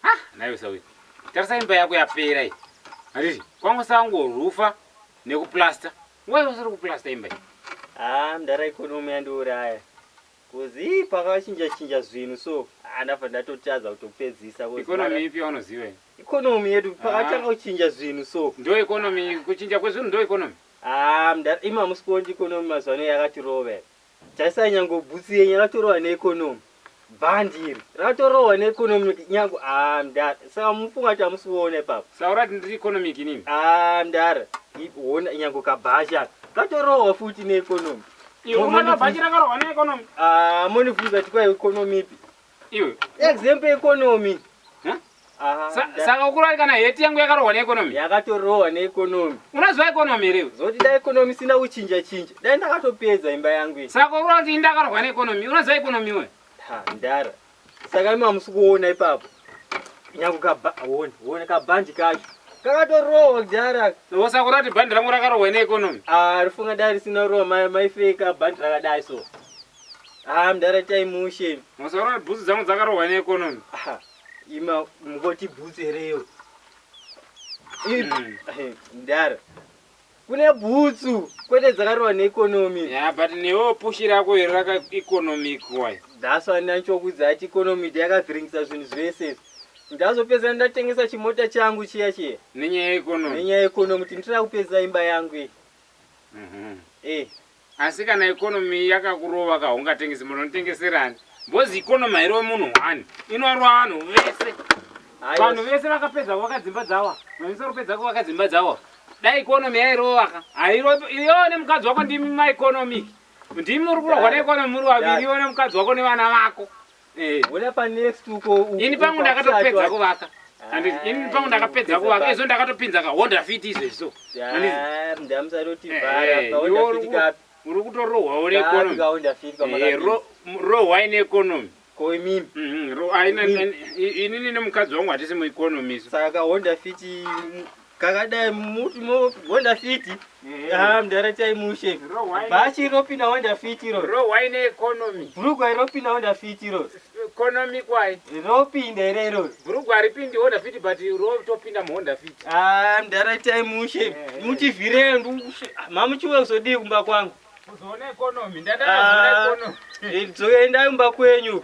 Ah, naiwe sawe. Tarisa imba yako yapera iyi. Handiti kwangu sango rufa nekuplaster. Why usiri kuplaster imba iyi? Ah, mdara economy yandiuraya. Kuzi pakachinja chinja zvinhu so andafa ah, ndatotadza kutopedzisa economy ipi yaunoziva iyi? Economy yedu ah. pakatanga kuchinja zvinhu so. Ndo economy kuchinja kwezvinhu ndo economy. Ah, mdara ima musikondi economy mazwano yakatirove. Tarisai nyango bhutsu yenyu ratorohwa neeconomy band iri ratorohwa neeconomic nyango ah mdara saka mufunga kuti hamusi kuona ipapo Saura kuti ndiri economic inini. ah mdara I- hona nyango kabhachi aka katorohwa futi neeconomy Iwe Mo- unoona monifunga- bhachi rakarohwa neeconomy. ah monifunga kuti kwai economy ipi Iwe. Example economy. Huh? Saka ukurwari kana heti yangu yakarohwa neekonomi? Yakatorohwa neekonomi. Unoziva ekonomi here? Zoti da ekonomi sina kuchinja chinja. Dai ndakatopedza imba yangu iyi. Saka ukurwari kuti indakarohwa neekonomi. Unoziva ekonomi iwe? Ha, ndara. Saka imi hamusi kuona ipapo. Nyangu kaba, wone, wone kabandi kacho. Kakatorohwa kudhara. Saka ukurwari kuti bandi rangu rakarohwa neekonomi? Ah, rifunga dai risina rohwa maifeka bandi rakadai so. Haa mdara itai mushe. Masaura kuti bhutsu dzangu dzakarohwa ne economy. Aha. Ima mukoti bhutsu here iyo. Mm. Mdara. Kune bhutsu kwete dzakarohwa ne economy. Yeah, but newo pushi rako iri raka economic why? That's why ndanichokudza ati economy ndiyo yakavhiringisa zvinhu zvese. Ndazopedzana ndatengesa chimota changu chiya chiya. Nenyaya ye economy. Nenyaya ye economy kuti ndira kupedzisa imba yangu iyi. Mhm. Mm eh. Asi kana economy yakakurova ka hungatengese mota unotengeserani mbozi economy hairowe munhu one inorova vanhu vese vanhu vese vakapedza kuvaka dzimba dzawa vanyisa kupedza kuvaka dzimba dzawa dai economy yairova ka hairo iyo nemukadzi wako ndimi maeconomic ndimi muri kurohwa neeconomy muri vaviri iwe nemukadzi wako nevana vako Eh, wona pa next uko uko. Ini pangu ndakatopedza kuvaka. Andis ah, ini pangu ndakapedza kuvaka. Izvo ndakatopinza ka Honda Fit izvo izvo. Andis. Ah, ndamusaroti eh, vara pa Honda Fit ka. Uri kutorohwa uri economy. Ka Honda Fit ka maka. Eh, ro ro why ne economy? Ko imimi. Mhm, ro aina ini nemukadzi wangu hatisi mu economy. Saka Honda Fit kakadai muti mogonda fiti haa mdara chai mushe bhachi ropinda wanda fiti ro rowaine economy bhurugwa ropinda wanda fiti ro economy kwai ropinda here ro bhurugwa haripindi honda fiti but rotopinda muhonda fiti haa mdara chai mushe mutivhirei mamuchiwe kuzodii kumba kwangu kuzoona economy ndandazoona economy dzoendai kumba kwenyu